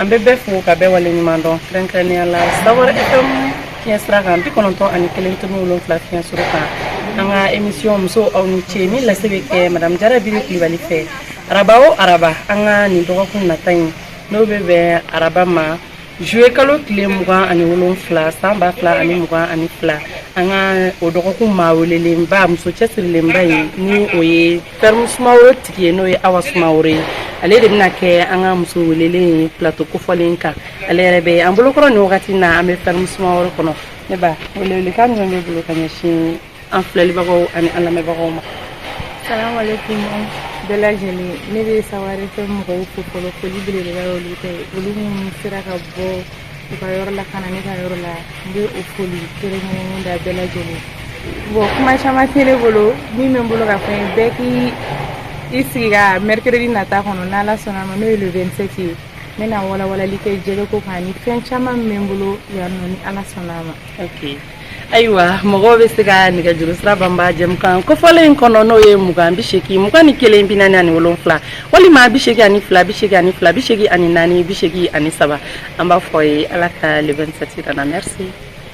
An bɛ bɛɛ fo ka bɛɛ wale ɲuman dɔn kɛrɛnkɛrɛnya la sawari FM fiɲɛ sira kan bi kɔnɔntɔn ani kelen tomi wolonwula fiɲɛ suru kan an ka emisiyɔn musow aw ni ce min lase bɛ kɛ madame jara biri kulubali fɛ araba o araba an ka nin dɔgɔkun nata in n'o bɛ bɛn araba ma Zuwe kalo tile mugan ani wolonwula san ba fila ani mugan ani fila an ka o dɔgɔkun maa welelenba muso cɛsirilenba ye ni o ye ferme sumaworo tigi ye n'o ye awa sumaworo ye ale de bɛna kɛ an ka muso welelen plateau kofɔlen kan ale yɛrɛ bɛ an bolokɔrɔ nin wagati na an bɛ ferme sumaworo kɔnɔ n b'a wele welekan min b'i bolo ka ɲɛsin an filɛlibagaw ani an lamɛnbagaw ma salamalekun bɛɛ lajɛlen ne bɛ sawari FM mɔgɔw fo fɔlɔ foli belebeleba olu ye olu minnu sera ka bɔ u ka yɔrɔ la ka na ne ka yɔrɔ la n bɛ o foli kɛrɛnkɛrɛnnen da bɛɛ lajɛlen bon kuma caman tɛ ne bolo min bɛ n bolo k'a fɔ aw ye bɛɛ k'i sigi ka mɛrikɛrɛdi nata kɔnɔ n'ala sɔnna ma n'o ye le 27 ye n bɛna walawalali kɛ jɛgɛko kan ni fɛn caman min bɛ n bolo yan nɔ ni ala sɔnna ma ayiwa mɔgɔw bɛ se ka nɛgɛjuru sira banba jɛmukan kofɔlen in kɔnɔ n'o ye mugan bi seegin mugan ni kelen bi naani ani wolonwula walima bi seegin ani fila bi seegin ani fila bi seegin ani naani bi seegin ani saba an b'a fɔ aw ye ala ka le 27 jira an na merci